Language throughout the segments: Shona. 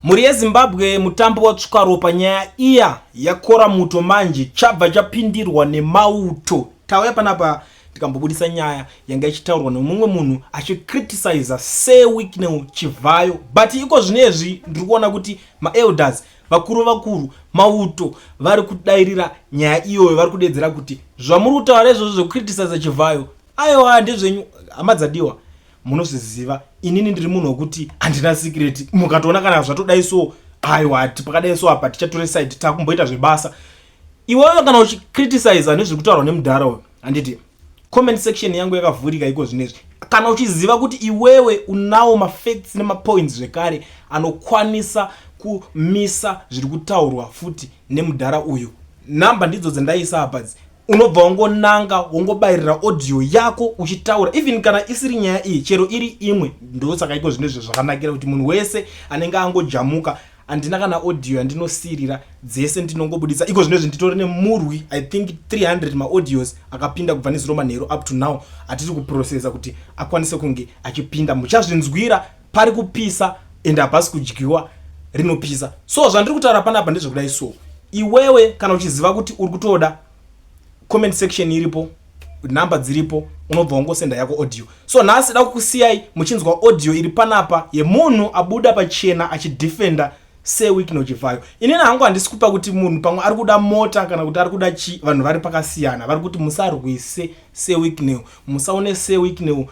Mhuri yeZimbabwe mutambo watsvuka ropa nyaya iya yakora muto manje chabva chapindirwa nemauto tauya panapa tikambobudisa nyaya yanga ichitaurwa nemumwe munhu achicriticiza sir wicknel chivhayo but iko zvino izvi ndiri kuona kuti maelders vakuru vakuru mauto vari kudairira nyaya iyoyo vari kudedzera kuti zvamuri kutaura izvozvo zvekucriticiza chivhayo Aiwa ndezvenyu hama dzadiwa munozviziva inini ndiri munhu wekuti handina sikireti mukatoona kana zvatodai so aiwa hati pakadai so apa tichatore side takumboita zvebasa iwewe kana uchicriticiza nezvekutaurwa nemudhara uyo handiti comment section yangu yakavhurika iko zvinezvi kana uchiziva kuti iwewe unawo mafacts nemapoints zvekare anokwanisa kumisa zviri kutaurwa futi nemudhara uyu number ndidzo dzandaisa apadzi unobva wangonanga wongobayirira audio yako uchitaura even kana isiri nyaya iyi chero iri imwe ndosaka iko zvine zve zvakanakira kuti munhu wese anenge angojamuka handina kana audio yandinosirira dzese ndinongobudisa iko zvino izvi nditori nemurwi i think 300 maaudios akapinda kubva nezuro manheru up to now atiri kuprocesa kuti akwanise kunge achipinda muchazvinzwira pari kupisa and hapasi kudyiwa rinopisa so zvandiri kutaura panapa ndezvekudai so iwewe kana uchiziva kuti uri kutoda comment section iripo number dziripo unobva wangosenda yako audio so nhasi da kukusiyai muchinzwa audio iri panapa yemunhu abuda pachena achidefenda seweek nochivhayo inini hangu handisi kupa kuti munhu pamwe ari kuda mota kana kuti ari kuda chi vanhu vari pakasiyana vari kuti musarwise seweek new musaone seweek new musa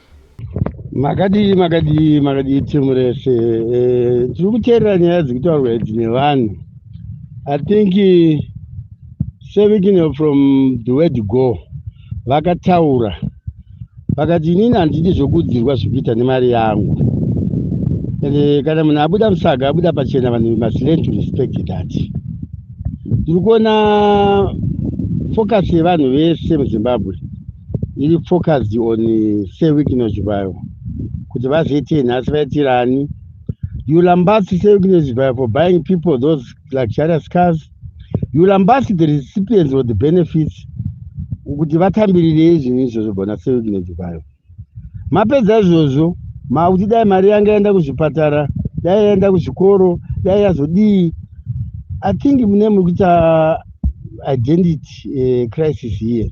makadii makadii makadii timu rese eh, tiri e, kuteerera nyaya dziri kutaurwa idzi nevanhu i think sevikino from the word go vakataura vakati inini handidi zvokuudzirwa zvekuita nemari yangu ende kana munhu abuda musaga abuda pachena vanhu must learn to respect that tiri kuona focus yevanhu vese muzimbabwe iri focused on eh, sir wikness vayo kuti vazoitei nhasi vaitirani you lambasi sir wikness vayo for buying people those luxurious cars you lambasi the recipients or the benefits kuti vatambirirei zvinhu izvozvo bona sir wikness vayo mapedza izvozvo makuti dai mari yanga yaenda kuzvipatara dai yaenda kuzvikoro dai yazodii i think mune muri kuita identity uh, crisis here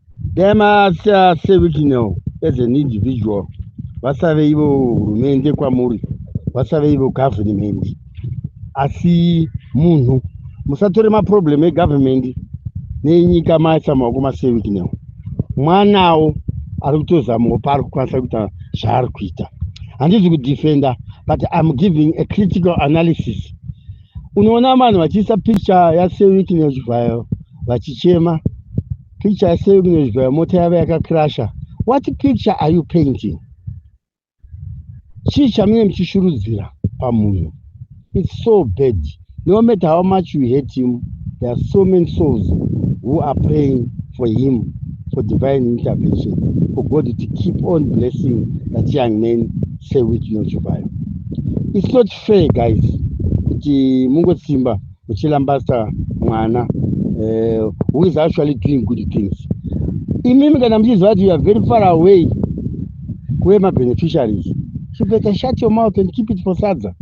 dai masa sevitinel as an individual vasave ivo hurumende kwamuri vasave ivo government asi munhu musatore maproblem egovernment nenyika maisa maoko masevitinel mwanawo ari kutozamawo paari kukwanisa kuita zvaari kuita handizi kudefenda but im giving a critical analysis unoona vanhu vachiisa picture yasevikine chivhayo vachichema picture sei kunozvibaya mota yava yakakrasha what picture are you painting chii chamunenge muchishurudzira pamunhu its so bad no matter how much you hate him there are so many souls who are praying for him for divine intervention for god to keep on blessing that young man say with you nochivayo its not fair guys kuti mungosimba uchilambasta mwana uh, who is actually doing good things imimi kana muchiziva kuti you are very far away kuve mabeneficiaries you better shut your mouth and keep it for sadza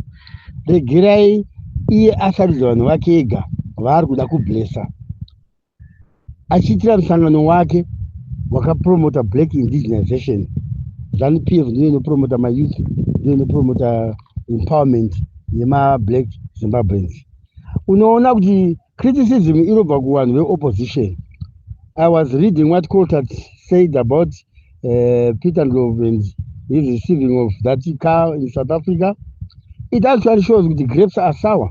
regerai iye asarudza vanhu vake ega vaari kuda kublessa achiitira musangano wake wakapromota black indigenization zanu p f ndiyo inopromota mayouth ndiyo inopromota empowerment yemablack zimbabweans unoona kuti criticism inobva kuvanhu veopposition i was reading what coltat said about uh, peter ndlove and his receiving of that car in south africa it actually shows kuti grapes are sour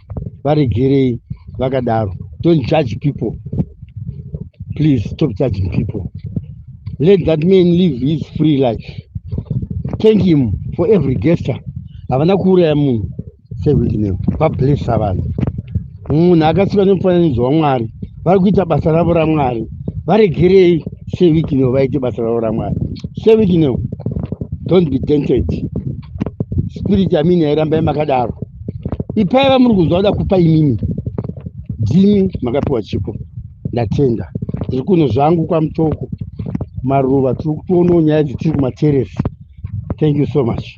varegerei vakadaro don't judge people please stop judging people let that man live his free life thank him for every gesture havana kuuraya munhu sehwidineo vablessa vanhu munhu akasikwa nemufananidzo wamwari vari kuita basa ravo ramwari varegerei sehwidineo vaite basa ravo ramwari sehwidineo don't be dented spirit yamini yairamba yamakadaro ipai vamuri kunzwa kuda kupa imimi dzimi makapiwa chipo ndatenda tiri kuno zvangu kwamutoko maruva tiri kutoonawo nyaya dzetiri kumateresi thank you so much